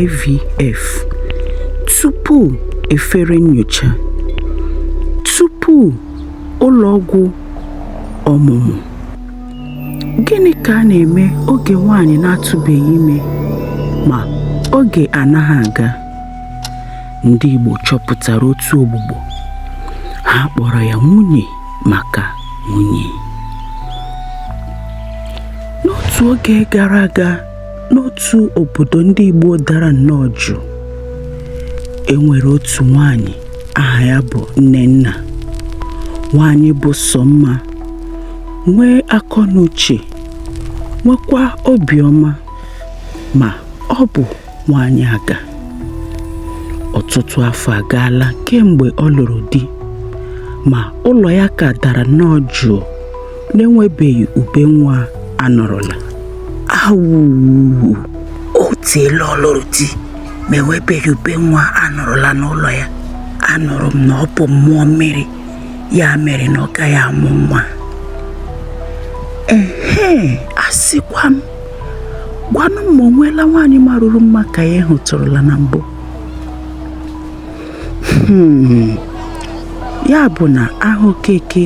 IVF tupu efere nyocha tupu ụlọ ọgwụ ọmụmụ gịnị ka a na-eme oge nwaanyị na-atụbeghị ime ma oge anaghị aga ndị Igbo chọpụtara otu ogbugbo ha kpọrọ ya nwunye maka nwunye n'otu oge gara aga n'otu obodo ndị Igbo dara nnọọ jụụ e nwere otu nwaanyị aha ya bụ nnenna nwaanyị bụ sọ mma nwee akọ na uche nwekwa obiọma ma ọ bụ nwaanyị aga ọtụtụ afọ agaala kemgbe ọ lụrụ di ma ụlọ ya ka dara nnọọ jụụ na-enwebeghị ube nwa a nụrụla awụụ o teela ọ lụrụ di ma enwebeghị ube nwa a nụrụla n'ụlọ ya anụrụ m na ọ bụ mmụọ mmiri ya mere na ọ gaghị amụ nwa ehe asịkwa m gwanụ m ma o nweela nwaanyị marụrụ mma ka ya hụtụrụla na mbụ hmm. ya bụ na aha okeke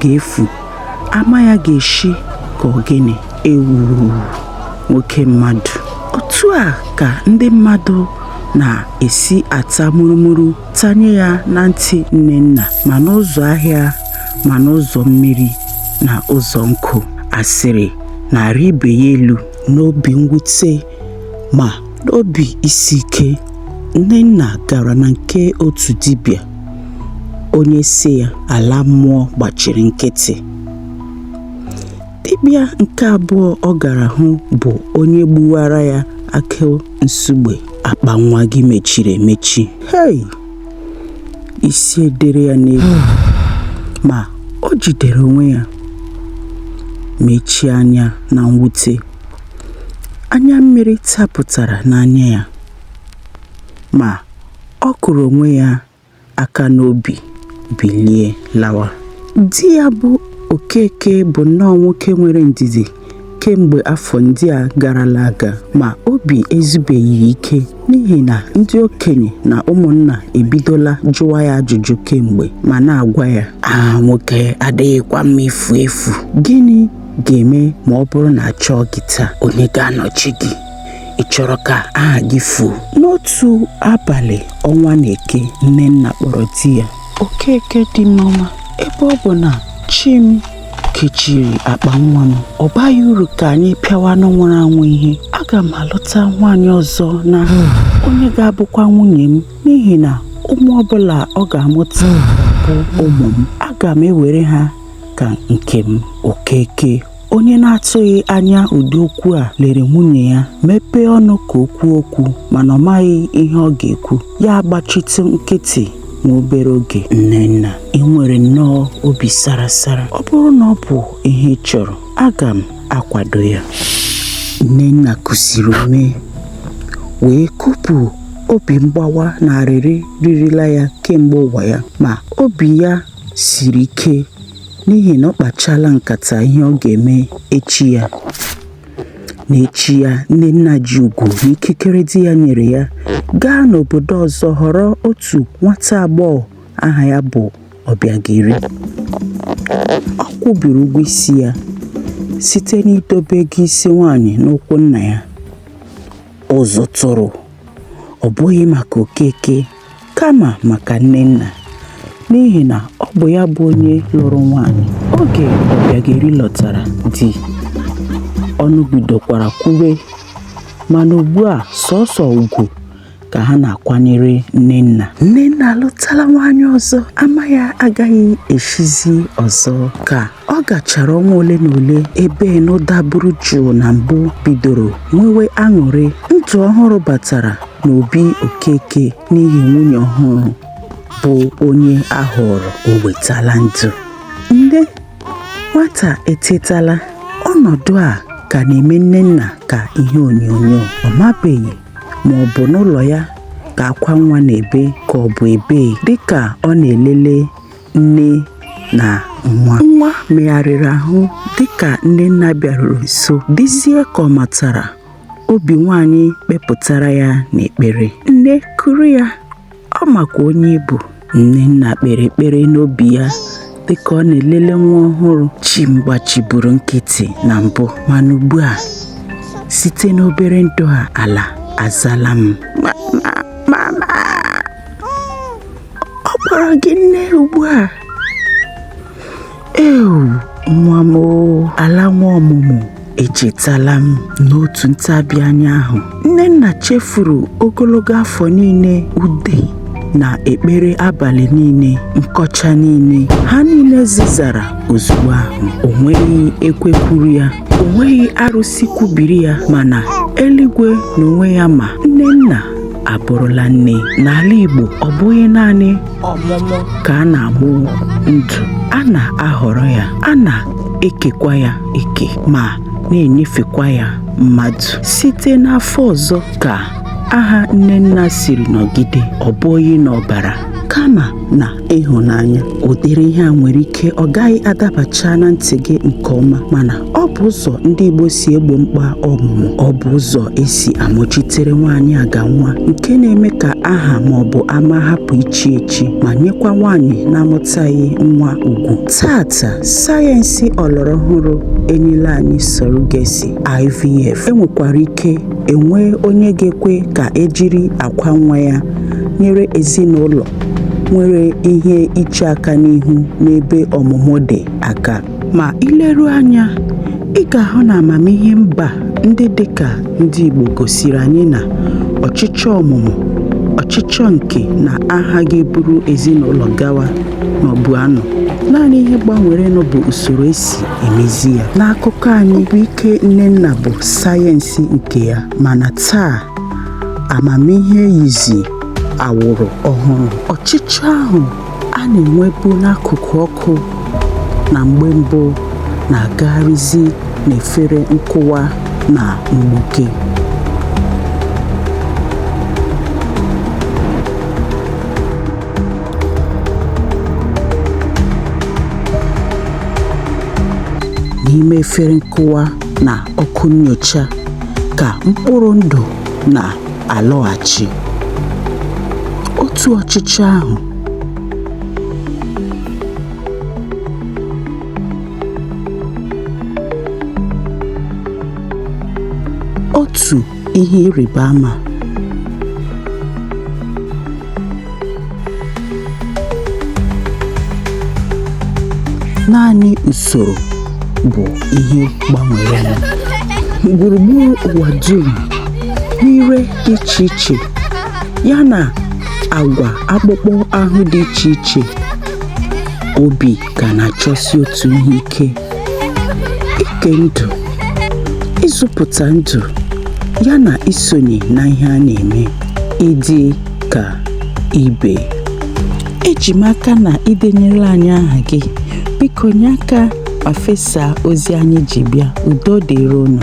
ga-efu ama ya ga-eshi ka ọ gịnị ewuu nwoke mmadụ otu a ka ndị mmadụ na-esi ata murumuru tanye ya na ntị nnenna ma n'ụzọ ahịa ma n'ụzọ mmiri na ụzọ nkụ asịrị na-arị ibe ya elu n'obi mwute ma n'obi isi ike nnenna gara na nke otu dibịa onye sị ya ala mmụọ gbachiri nkịtị dibịa nke abụọ ọ gara hụ bụ onye gbuwara ya akụ nsugbe akpa nwa gị mechiri emechi hei isi edere ya n'elu ma o jidere onwe ya mechie anya na mwute anya mmiri tapụtara n'anya ya ma ọ kụrụ onwe ya aka n'obi bilie lawa di ya bụ okeke bụ nnọọ nwoke nwere ndidi kemgbe afọ ndị a garala aga ma obi ezubeghị ike n'ihi na ndị okenye na ụmụnna ebidola jụwa ya ajụjụ kemgbe ma na-agwa ya aha nwoke adịghịkwa mma ifu efu gịnị ga-eme ma ọ bụrụ na a chọọ gị taa onye ga-anọchi gị ị chọrọ ka aha gị fuo n'otu abalị ọnwa na-eke nnenna kpọrọ di ya okeke di m ọma ebe ọ bụ na chi m kechiri akpa nwa m ọ baghị uru ka anyị pịawa anụ nwụrụ anwụ ihe aga m alụta nwaanyị ọzọ na onye ga-abụkwa nwunye m n'ihi na ụmụ ọbụla ọ ga-amụta bụ ụmụ m aga m ewere ha ka nke m okeke onye na-atụghị anya ụdị okwu a lere nwunye ya mepee ọnụ ka o kwuo okwu mana ọ maghị ihe ọ ga-ekwu ya agbachitụ nkịtị nwa obere oge nnenna i nwere nnọọ obi sara sara ọ bụrụ na ọ bụ ihe ị chọrọ aga m akwado ya nnenna kusiri ume wee kupụ obi mgbawa na arịrị ririla ya kemgbe ụwa ya ma obi ya siri ike n'ihi na ọ kpachala nkata ihe ọ ga-eme echi ya N'echi ya, Nnenna ji ugwu na ikikere di ya nyere ya gaa n'obodo ọzọ họrọ otu nwata agbọghọ aha ya bụ Ọbịageri. Ọ kwụbiri ụgwọ isi ya site n'idobe ego isi nwaanyị n'ụkwụ nna ya. Ụzụ tụrụ, ọ bụghị maka Okeke. Kama maka Nnenna, n'ihi na ọ bụ ya bụ onye lụrụ nwaanyị. Oge Ọbịageri lọtara di, ọnụ bidokwara kwube mana ugbu a sọsọ ugwu ka ha na-akwanyere Nnenna. Nnenna alụtala nwaanyị ọzọ, ama ya agaghị eshizi ọzọ. Ka Ọ gachara ọnwa ole na ole ebe ịnụ daburu jụụ na mbụ bidoro nwewe aṅụrị, ndụ ọhụrụ batara n'obi Okeke n'ihi nwunye ọhụrụ bụ onye a họọrọ o wetala ndụ. Nne nwata etetala, ọnọdụ a ka na-eme Nnenna ka ihe onyonyo. Ọ mabeghị ma ọ bụ n'ụlọ ya ka akwa nwa na-ebe ka ọ bụ ebee dịka ọ na-elele nne na nwa nwa megharịrị ahụ dịka Nnenna bịaruru nso dịzie ka ọ matara obi nwaanyị kpepụtara ya n'ekpere nne kuru ya ọ makwa onye ị bụ Nnenna kpere ekpere n'obi ya dịka ọ na-elele nwa ọhụrụ chi m gbachiburu nkịtị na mbụ mana ugbu a site n'obere ndụ a ala azala m ọ kpọrọ gị nne ugbu a ewu nwa m ala nwe ọmụmụ echetala m n'otu ntabi anya ahụ nnenna chefuru ogologo afọ niile ude na ekpere abalị niile nkọcha niile ha niile zizara ozugbo ahụ o nweghị ekwe kwuru ya o nweghị arụsị kwubiri ya mana eluigwe n'onwe ya ma nnenna abụrụla nne n'ala Igbo ọ bụghị naanị ọmụmụ ka a na-amụ ndụ a na-ahọrọ ya a na-ekekwa ya eke ma na-enyefekwa ya mmadụ site n'afọ ọzọ ka aha nnenna siri nọgide ọ bụghị n'ọbara kama na ịhụnanya ụdịrị ihe a nwere ike ọ gaghị adabacha na ntị gị nke ọma mana ọ bụ ụzọ ndị Igbo si egbo mkpa ọmụmụ ọ bụ ụzọ e si amụchitere nwaanyị aga nwa nke na-eme ka aha ma ọ bụ ama hapụ ichi echi ma nyekwa nwaanyị na-amụtaghị nwa ugwu taata sayensị ọlọrọ ọhụrụ enyela anyị surrogacy IVF e nwekwara ike e nwee onye ga-ekwe ka e jiri akwa nwa ya nyere ezinụlọ nwere ihe iche aka n'ihu n'ebe ọmụmụ dị aka. Ma i leruo anya, ị ga-ahụ na amamihe mba ndị dị ka ndị Igbo gosiri anyị na ọchịchọ ọmụmụ, ọchịchọ nke na aha ga-eburu ezinụlọ gawa nọbu anọ naanị ihe gbanwerenụ bụ usoro e si emezi ya n'akụkọ anyị obi ike nnenna bụ sayensị nke ya mana taa amamihe yizi awụrụ ọhụrụ ọchịchọ ahụ a na-enwebu n'akụkụ ọkụ na mgbe mbụ na-agagharịzi n'efere nkụwa na mgbuke n'ime efere nkụwa na ọkụ nyocha ka mkpụrụ ndụ na alọghachi otu ọchịchọ ahụ otu ihe ịrịba ama naanị usoro bụ ihe gbanwerenụ gburugburu ụwa dum n'ire dị iche iche ya na agwa akpụkpọ ahụ dị iche iche obi ka na-achọsi otu ihe ike ike ndụ ịzụpụta ndụ ya na isonye na ihe a na-eme ịdị ka ibe. Eji m aka na ị denyela anyị aha gị. Biko nye aka ma fesaa ozi anyị ji bịa. Udo dịrị unu.